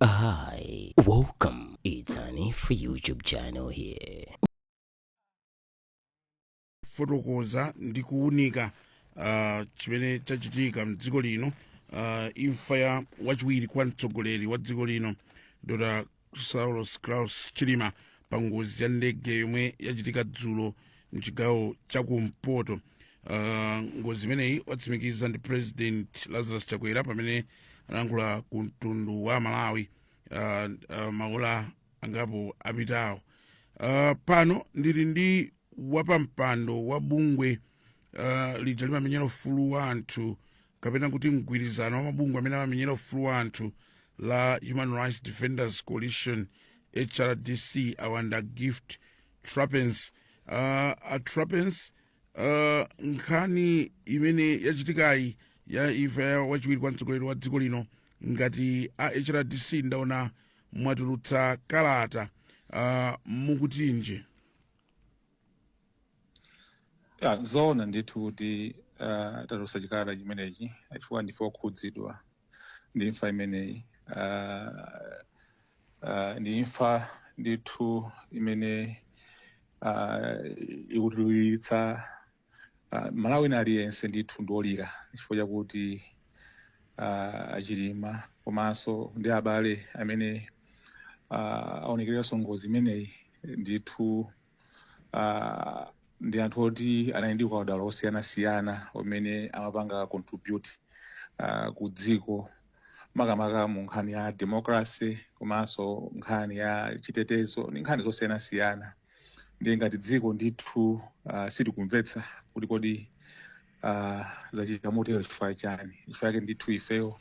Hi, welcome. It's an free YouTube channel here. Kufotokoza ndi kuwunika uh, chimene chachitika mdziko lino uh, imfa ya wachiwiri kwa mtsogoleri wa dziko lino dr saulos klaus chilima pa ngozi ya ndege yomwe yachitika dzulo mchigawo chakumpoto uh, ngozi imeneyi watsimikiza ndi president lazarus chakwera pamene analankhula ku mtundu wa amalawi uh, uh, maola angapo apitawo uh, pano ndili ndi wapampando wa bungwe uh, lija limamenyera ufulu wa anthu kapena kuti mgwirizano wa mabungwe amene amamenyera ufulu wa anthu la human rights defenders coalition hrdc a bambo gift trapence uh, a trapence uh, nkhani imene yachitikayi ya imfa ya wachiwiri kwa mtsogoleri wa dziko lino ngati a hrdc ndaona mwatulutsa kalata uh, mukutinji a zoona ndithu kuti uh, tatulutsa chikalata chimenechi chifukwa ndife okhudzidwa ndi imfa imeneyi Ah, ah, ndi imfa ndithu imene ah, ikutiliritsa ah, malawi na aliyense ndithu ndi wolira chifukwa chakuti ah, achilima komanso ndi abale amene ah, aonekeredwanso ngozi imeneyi ndithu uh, ndi anthu oti anali ndi ukadaulo osiyanasiyana umene amapanga contribute uh, kudziko makamaka mu nkhani ya democracy komanso nkhani ya chitetezo ndi nkhani zosiyanasiyana ndiye ngati dziko ndithu uh, sitikumvetsa kuti kodi uh, zachitika motero chifukwa chani chifukwa chake ndithu ifeyo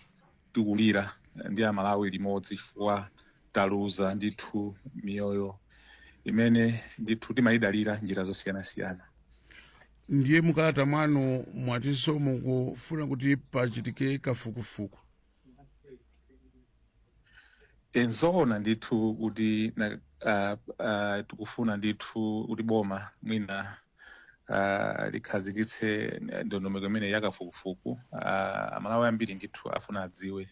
tikulira ndi amalawi limodzi chifukwa taluza ndithu miyoyo imene ndithu timayidalira njira zosiyanasiyana ndiye mukalata mwanu mwatinso mukufuna kuti pachitike kafukufuku eh nzoona ndithu kuti na- ah, ah, tikufuna ndithu kuti boma mwina ah, likhazikitse ndondomeko imene yakafukufuku ah, amalawi ambiri ndithu afuna adziwe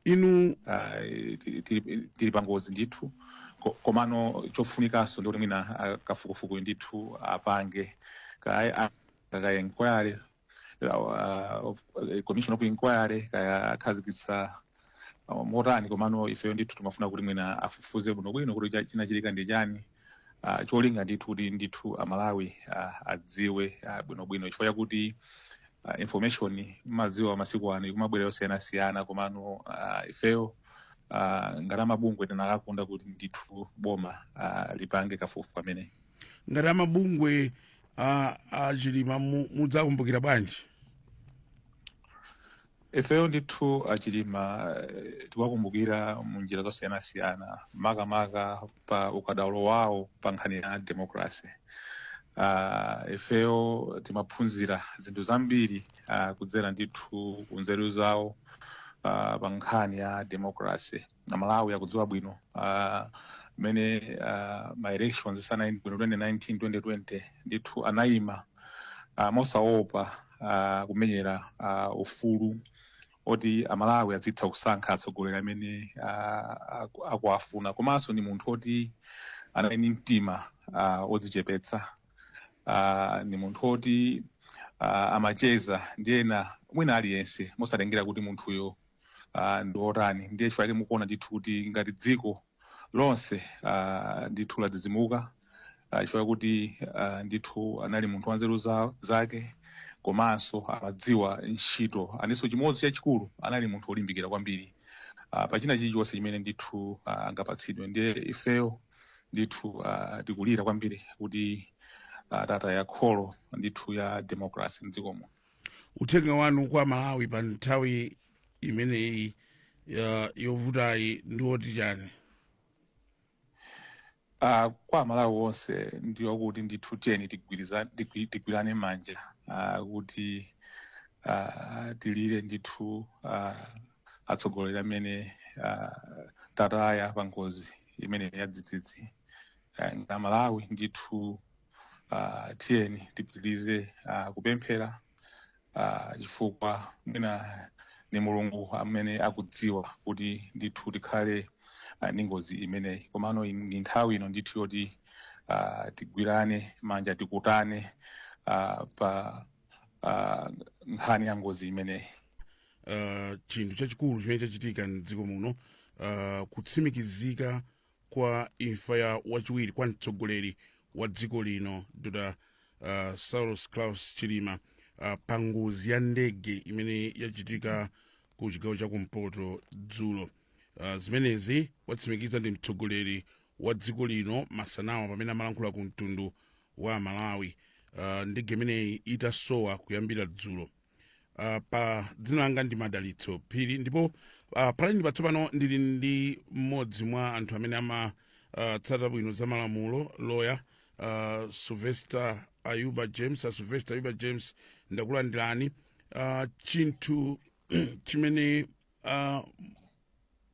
inde Ah, ti- ti- tili pangozi ndithu Ko- komano chofunikanso ndikuti mwina ah, kafukufuku ndithu apange Kaya- ah, kakaye nkwale uh, of, uh, commission of inquiry kaya akhazikitsa uh, motani komano ifeyo ndithu timafuna kuti mwina afufuze bwinobwino kuti cha- chinachitika ndi chani uh, cholinga ndithu kuti ndithu amalawi uh, adziwe uh, bwinobwino chifukwa chakuti uh, information mumadziwa masiku ano ikumabwera yosiyanasiyana komano uh, ifeyo uh, ngati amabungwe tinakakonda kuti ndithu boma uh, lipange kafukufuku ameneyi ngati amabungwe a, a chilima mu- mudzakumbukira bwanji ifeyo ndithu achilima eh, tikuwakumbukira mu njira zosiyanasiyana makamaka pa ukadaulo wawo pa nkhani ya demokrasi uh, ifeyo timaphunzira zinthu zambiri uh, kudzera ndithu ku nzeru zawo uh, pa nkhani ya demokrasi amalawi akudziwa bwino ah, mmene ah, ma elections sanayende bwino 2019 2020 ndithu anayima ah, mosaopa ah, kumenyera ah, ufulu oti amalawi azitha kusankha atsogoleri amene ah, aku- akuwafuna komanso ndi munthu oti anali ndi mtima ah, odzichepetsa ah, ni munthu oti ah, amacheza ndi ena wina aliyense mosatengera kuti munthuyo ah, ndi otani ndiye chifukwa chake mukuona ndithu kuti ngati dziko lonse ah, ndithu ladzidzimuka ah, chifukwa kuti ah, ndithu anali munthu wanzeru za- zake komanso amadziwa ntchito chinanso chimodzi chachikulu anali munthu wolimbikira kwambiri ah, pa china chilichonse chimene ndithu ah, angapatsidwe ndiye ifeyo ndithu ah, tikulira kwambiri kuti ah, tataya kholo ndithu la democracy mdziko muno uthenga wanu kwa amalawi pa nthawi imeneyi ya- yovutayi ndi woti chani Ah, kwa amalawi onse ndi wakuti ndithu tiyeni tigwiriza- tigwi- tigwirane manja ah, kuti ah, tilire ndithu ah, atsogoleri amene ah, tataya pa ngozi imeneyi yadzidzidzi eh, ngati amalawi ndithu ah, tiyeni tipitirize ah, kupemphera ah, chifukwa mwina ni mulungu amene akudziwa kuti ndithu tikhale ah, ndi ngozi imeneyi komano in- ndi nthawi ino ndithu yoti ah, tigwirane manja tikhuzane ah, pa ah, nkhani ya ngozi imeneyi uh, chinthu chachikulu chimene chachitika mdziko muno uh, kutsimikizika kwa imfa ya wachiwiri kwa mtsogoleri wa dziko lino dr uh, saulos klaus chilima uh, pa ngozi ya ndege imene yachitika ku chigawo cha kumpoto dzulo uh, zimenezi watsimikiza ndi mtsogoleri wa dziko lino masanawa pamene amalankhula ku mtundu wa malawi uh, ndege imeneyi itasowa kuyambira dzulo uh, pa dzina langa ndi madalitso phiri ndipo uh, palaini patsopano ndili ndi mmodzi mwa anthu amene amatsata uh, bwino za malamulo loya uh, sylvester ayuba james a sylvester ayuba james ndakulandirani uh, chinthu chimene uh,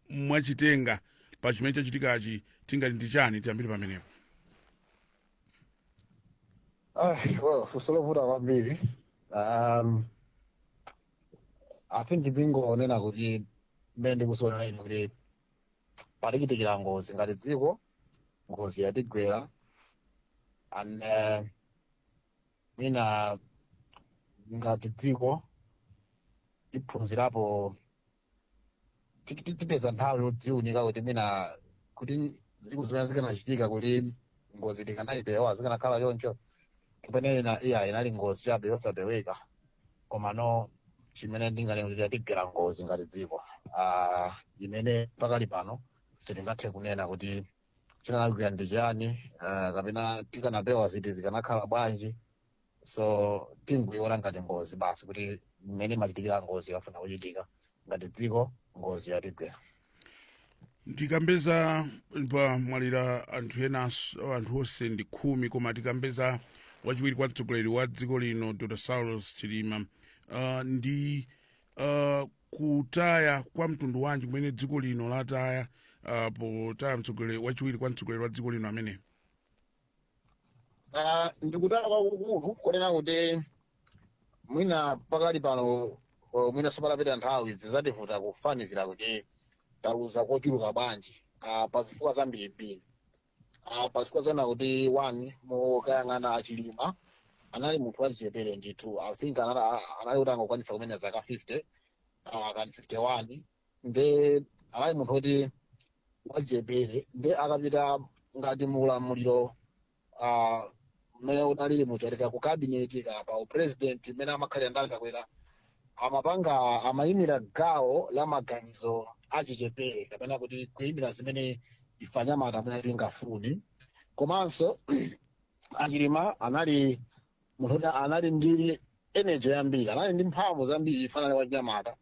mwachitenga pa chimene chachitikachi tingati ndi chani tiyambire pamenepo Ah, well, funso lovuta kwambiri um, i think ndingonena kuti mmene ndikuzionera ine kuti yatichitikira ngozi ngati dziko ngozi yatigwera and uh, mwina ngati dziko tiphunzirapo ti- ti- tipeza nthawi yodziunika kuti mwina kuti zinthu zimene zikanachitika kuti ngozi tikanayipewa zikanakhala choncho kapena ina iyayi inali ngozi chabe yosapeweka komano chimene ndinganene kuti yatigwera ngozi ngati dziko Ah, imene pakali pano sitingathe kunena kuti chinalakwika ndi chiyani ah, kapena tikanapewa ziti zikanakhala bwanji so tingoiona ngati ngozi basi kuti mmene imachitikira ngozi ikafuna kuchitika ngati dziko ngozi yatigwera tikambe za pamwalira anthu enanso anthu onse ndi khumi koma tikambe za wachiwiri kwa mtsogoleri wa dziko lino dr saulos chilima uh, ndi uh, kutaya kwa mtundu wanji kumene dziko lino lataya uh, potaya mtsogoleri wachiwiri kwa mtsogoleri wa dziko lino amene Ah, ndi kutaya kwakukulu kunena kuti mwina pakali pano o, mwina sipatapita nthawi zizativuta kufanizira kuti taluza kochuluka bwanji ah, pa zifukwa zambirimbiri ah, pa zifukwa zonena kuti one mukayang'ana a chilima anali munthu wachichepere ndithu i think anali anali kuti angokwanisa kumene zaka 50 ah, kani 51 nde anali munthu woti wachichepere nde akapita ngati muulamuliro ah, mmene unalili muchoteka ku kabineti kapa upresidenti mmene amakhalira ndakakwera amapanga amayimira gawo la maganizo achichepere kapena kuti kuyimira zimene ife anyamata mmene tingafunire komanso a chilima anali munthu kuti anali ndi energy yambiri anali ndi mphamvu zambiri chifukwa anali wachinyamata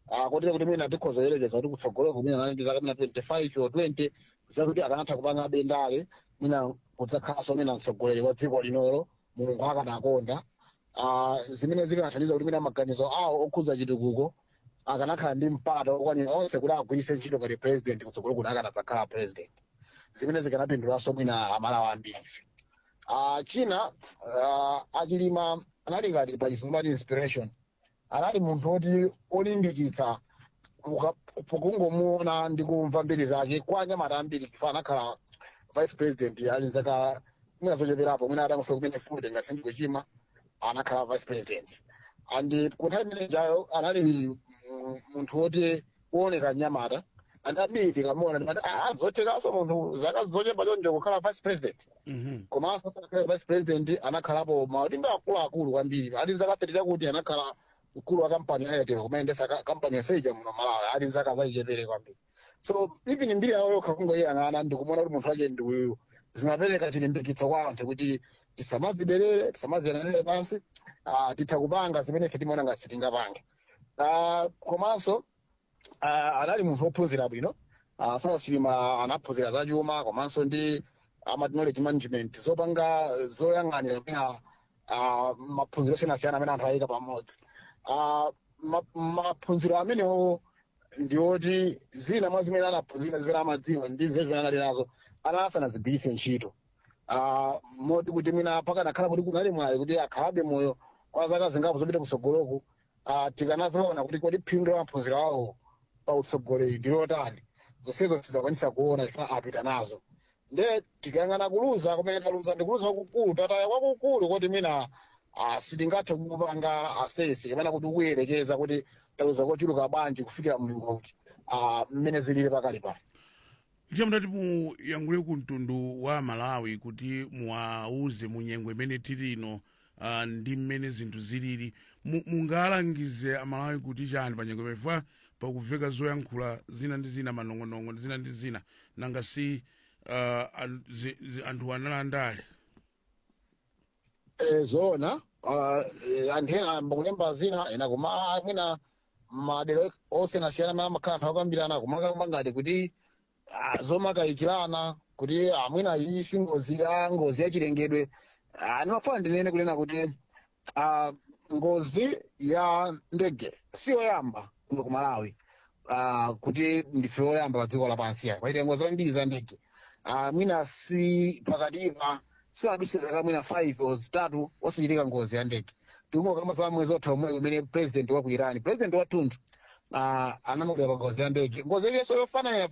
Ah, kotero kuti mwina tikhoza yerekeza kuti kutsogolo kumene anali ndi zaka mwina 25 or 20 zakuti akanatha kupanga bendale mwina kudzakhalanso mwina mtsogoleri wa dziko linolo mulungu akanakonda Ah, zimene zikanathandiza kuti mwina maganizo awo okhudza chitukuko akanakhala ndi mpata okwanira onse kuti agwiritse ntchito ngati president kutsogolo kuti akanadzakhala president zimene zikanapindulanso mwina amalawi ambiri uh, china uh, achilima anali ngati pa chizungu amati inspiration anali munthu woti olimbikitsa uka- pokungomuona ndi kumva mbiri zake kwa anyamata ambiri chifukwa anakhala vice president ali nzaka mwina zocheperapo mwina atangofika kumene 40 ngati sindikuchimwa anakhala vice president and ku nthawi imenejayo anali mm, munthu woti kuoneka mnyamata and ambiri tikamuona timati "Ah, zothekaso munthu zaka zochepa chonchi kukhala vice president Mhm. komanso atakhala vice president anakhalapo maudindo akuluakulu kwambiri ali zaka 30 zakuti anakhala mkulu wa kampani ya airtel kumayendetsa ka- kampani yaseija muno malawi ali zaka zachichepere kwambiri so even mbiri yawo yokha kungoyiyang'ana ndikumuona kuti munthu wake ndi uyu zimapereka chilimbikitso kwa anthu kuti tisamaziderere tisamaziyang'anire pansi ah, titha kupanga zimene ife timaona ngati sitingapange Ah, komanso ah, anali munthu wophunzira bwino Ah, saulos chilima anaphunzira za chuma komanso ndi amati knowledge management zopanga zoyang'anira mwina ah, maphunziro osiyanasiyana amene anthu ayika pamodzi Ah, ma- maphunziro amenewo ndiwoti zina mwa zimene anaphunzira zimene amadziwa ndi zimene anali nazo ana asanazigwiritse ntchito Ah, moti kuti mwina pakanakhala kuti kunali mwayi kuti akhalabe moyo kwa zaka zingapo zopita kutsogoloku ah, tikanaziona kuti kodi phindu la maphunziro awo pa utsogoleri ndi lotani zonsezo sitinakwanitse kuona chifukwa apita nazo nde tikayang'ana kuluza kumene taluza ndi kuluza kwakukulu tataya kwakukulu koti mwina ah, sitingathe kupanga assess kapena kuti kuyerekeza kuti taluza kochuluka bwanji kufikira mlingo uti ah, mmene zilili pakali pano Ndiye mutati muyankhule ku mtundu wa Amalawi kuti muwauze mu nyengo imene tili ino ah, ndi mmene zinthu zilili mu- mungalangize Amalawi kuti chani pa nyengo chifukwa pakumveka zoyankhula zina ndi zina manong'onong'o ndi zina ndi zina nanga si ah, an- zi- zi- anthu analandira Eh, zoona ah, eh, anthu ena ayamba kulemba zina ena koma ah, mwina madera osiyanasiyana amene amakhala anthu akukambirana kumakamba ngati kuti ah, zomakayikirana kuti ah, mwina iyi si ngozi ya ngozi yachilengedwe Ah, ndimafuna ndinene kunena kuti Uh, ngozi ya ndege si yoyamba kuno ku malawi uh, kuti ndife oyamba pa dziko lapansi ayi pachitika ngozi zambiri za ndege uh, mwina si pakatipa sipadutsa zaka mwina 5 o zitatu osachitika ngozi ya ndege tikungokamba za mwezi wotha omwe umene president wa ku iran president wathunthu uh, anamwalira pa ngozi ya ndege ngozi yenso yofanana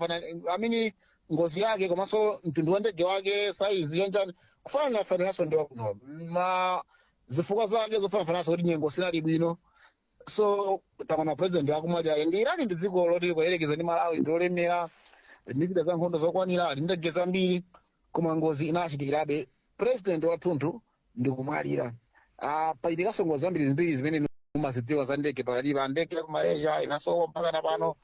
amene ngozi yake komanso mtundu wa ndege wake saizi yanjani kufananafanananso ndi wakuno zifukwa zake zofananafanananso kuti nyengo sinali bwino so taona president akumwalira irani ndi dziko loti kuyerekeza ndi malawi ndi lolemera ndi zida za nkhondo zokwanira ali ndi ndege zambiri koma ngozi inachitikirabe president wathunthu ndi kumwalira Ah, pachitikanso ngozi zambirimbiri zimene mumazidziwa za ndege pakati pa ndege ya ku malaysia inasowa mpaka na pano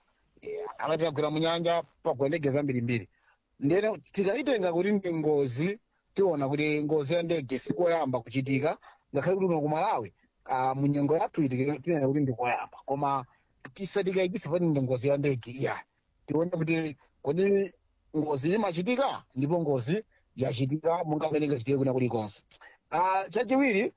amati inagwera mu nyanja pagwa ndege zambirimbiri ndiyeno tikayitenga kuti ndi ngozi tiona kuti ngozi ya ndege sikoyamba kuchitika ngakhale kuti kuno ku malawi ah, mu nyengo yathuyi tinena kuti ndikoyamba koma tisatikayikise poti ndi ngozi ya ndege iyayi tione kuti kodi ngozi imachitika ndipo ngozi yachitika monga mmene ingachitikire kwina kulikonse Ah, chachiwiri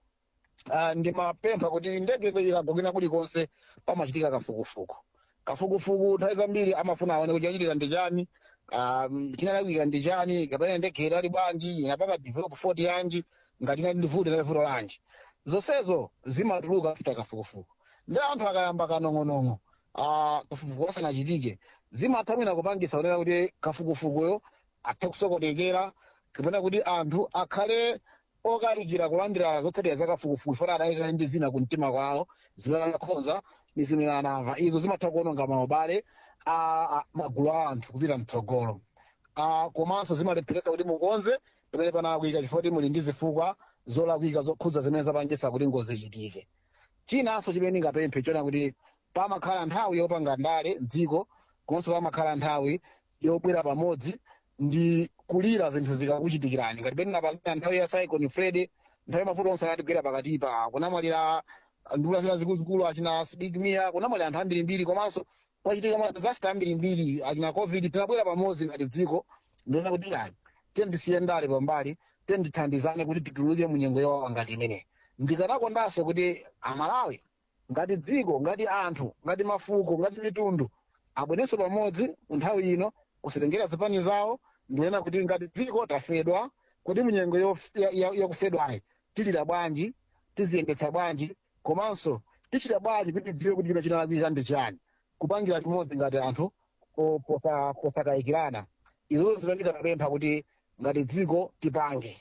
Ah, ndimapempha kuti ndege ikagwa kwina kulikonse pamachitika kafukufuku kafukufuku nthawi zambiri amafuna aone kuti chachitika ndi chani ah, mm, chinalakwika ndi chani kapena ndege inali bwanji inapanga develop fault yanji ngati inali ndi vuto inali vuto lanji zonsezo zimatuluka after kafukufuku ndiye anthu akayamba kanong'onong'o ah, kafukufuku asanachitike zimatha mwina kupangitsa kunena kuti kafukufukuyo athe kusokonekera kapena kuti anthu akhale okayikira kulandira zotsatira za kafukufuku chifukwa adayika ndi zina ku mtima kwawo zimene anakhonza ndi zimene anamva izo zimatha kuononga maubale a a- magulu a anthu kupita mtsogolo Ah, komanso zimalepheretsa kuti mukonze pamene panalakwika chifukwa choti muli ndi zifukwa zolakwika zokhudza zimene zapangitsa kuti ngozi ichitike chinanso chimene ndingapemphe chonena kuti pamakhala nthawi yopanga ndale mdziko komanso pamakhala nthawi yobwera pamodzi ndi kulira zinthu zikakuchitikirani ngati mmene tinapangira nthawi ya cyclone freddy nthawi ya mavuto onse anatigwera pakatipa kunamwalira nduna zina zikuluzikulu achina sidik mia kunamwalira anthu ambirimbiri komanso kwachitika ma disaster ambirimbiri achina covid tinabwera pamodzi ngati dziko ndikunena kuti tiyeni tisiye ndale pambali tiyeni tithandizane kuti tituluke mu nyengo yowawa ngati imeneyi ndikanakondanso kuti amalawi ngati dziko ngati anthu ngati mafuko ngati mitundu abwerenso pamodzi nthawi ino kusatengera zipani zawo ndikunena kuti ngati dziko tafedwa kodi munyengo yof- ya- ya- yakufedwayi tilira bwanji tiziyendetsa bwanji komanso tichita bwanji kuti tidziwe kuti chino chinalakwika ndi chani kupangira limodzi ngati anthu po- posa- posakayikirana izo zimene ndingapemphe kuti ngati dziko tipange